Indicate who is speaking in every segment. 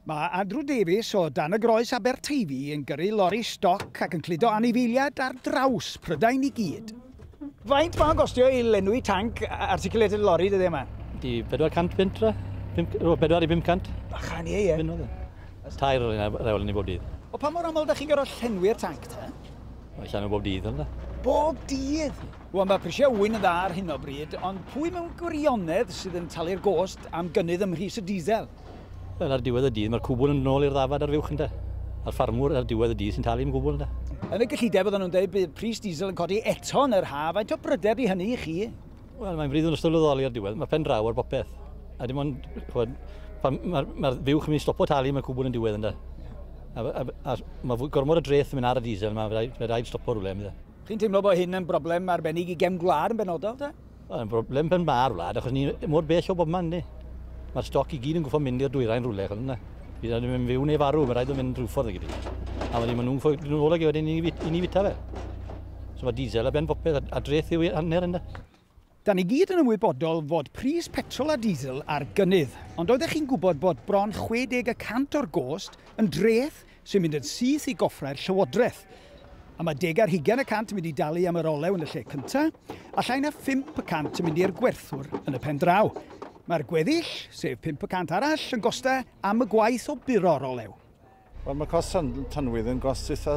Speaker 1: Mae Andrew Davies o dan y Groes Aberteifi yn gyrru lori stoc ac yn cludo anifeiliaid ar draws Prydain i gyd. Faint mae'n gostio i lenwi tanc articulated lorry dyddiau yma? Di 400
Speaker 2: punt ra? 4 i 500? Bachan ie, ie. Fynnodd
Speaker 1: e. Tair o'r
Speaker 2: un rewl yn ei bob dydd. O pa mor aml da chi'n
Speaker 1: gorfod llenwi'r tanc ta? Mae llenwi bob
Speaker 2: dydd yna. Bob dydd?
Speaker 1: Wel, mae prisiau ŵyn yn dda ar hyn o bryd, ond pwy mewn gwirionedd sydd yn talu'r gost am gynnydd ym mhris y diesel? Wel, ar diwedd
Speaker 2: y dydd, mae'r cwbl yn mynd nôl i'r ddafad ar fuwch, ynde? A'r ffarmwr ar diwedd y dydd sy'n talu am y gwbl, ynde? Yn y gyllideb oedden nhw'n
Speaker 1: dweud bydd pris diesel yn codi eto yn yr haf, faint o brydau ydy hynny i chi? Wel, mae'n frith yn ystod lwyddoli ar
Speaker 2: diwedd, mae pen draw ar bopeth. A dim ond, chwed, pan mae'r mae fuwch yn mynd i stopo talu, mae'r cwbl yn diwedd, ynde? A, a, a, a mae gormod o dreth yn mynd ar y diesel yma, fe rhaid, fe rhaid stopo rhywle, ynde? Chi'n teimlo bod hyn yn
Speaker 1: broblem arbennig i gefn gwlad yn benodol te? Mae'n broblem pen
Speaker 2: ma'r wlad achos ni mor bell o bob man ni. Mae'r stoc i gyd yn gwybod mynd i'r dwyrain rhywle achos yna. Bydd rhaid mynd fyw neu farw, mae'n rhaid mynd rhyw ffordd i gyd. A wedyn maen nhw'n ffoi grynol ag wedyn i ni fita fe. So mae diesel a ben popeth a dreth yw hanner yna. Da ni gyd
Speaker 1: yn ymwybodol fod pris petrol a diesel ar gynnydd, ond oeddech chi'n gwybod bod bron 60 y cant o'r gost yn dreth sy'n mynd yn syth i goffrau'r Llywodraeth? A mae deg ar hugain y cant yn mynd i dalu am yr olew yn y lle cyntaf, a llai na phump y cant yn mynd i'r gwerthwr yn y pen draw. Mae'r gweddill, sef pump y cant arall, yn gostau am y gwaith o buro'r olew. Wel, mae cost
Speaker 3: tanwydd yn gost eitha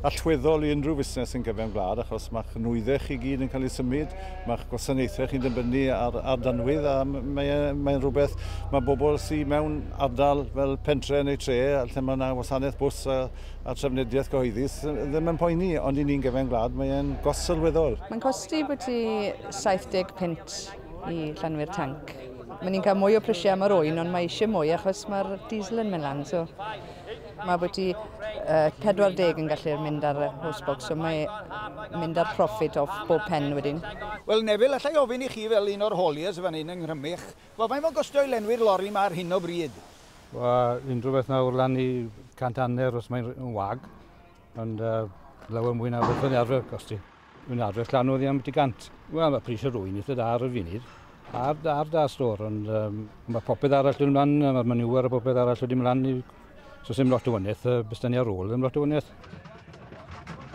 Speaker 3: allweddol i unrhyw fusnes yn gyfewn gwlad achos mae'ch nwyddau chi gyd yn cael ei symud, mae'ch gwasanaethau chi'n dibynnu ar, ar danwydd a mae'n mae rhywbeth mae bobl sydd mewn ardal fel pentre neu tre lle mae yna wasanaeth bws a, a trefnidiaeth gyhoeddus ddim yn poeni ond i ni'n gyfewn gwlad mae'n gost sylweddol. Mae'n costi bwyty
Speaker 4: 75 i llenwi'r tanc. Mae ni'n cael mwy o prisiau am yr oen, ond mae eisiau mwy achos mae'r diesel yn mynd lan. So, mae bwyty uh, 40 yn gallu mynd ar y hostbox, so mae mynd ar profit off bob pen wedyn. Wel, Neville, allai
Speaker 1: ofyn i chi fel un o'r hauliers fan hyn yng Nghrymych, wel, faint mae'n gostio i lenwi'r lori yma ar hyn o bryd? Wel,
Speaker 5: unrhyw beth nawr lan i 100 hanner os mae'n wag, ond uh, lawer mwy na beth yn arfer gosti. Yn adreth llan oddi am y gant. Wel, mae pris y rwy'n eitha da ar y funud. Ar, ar da stor, ond um, mae popeth arall yn ymlaen, mae'r manywar a popeth arall wedi ymlaen. So sy'n lot o wyneth, uh, bys ni ar ôl yn lot o wyneth.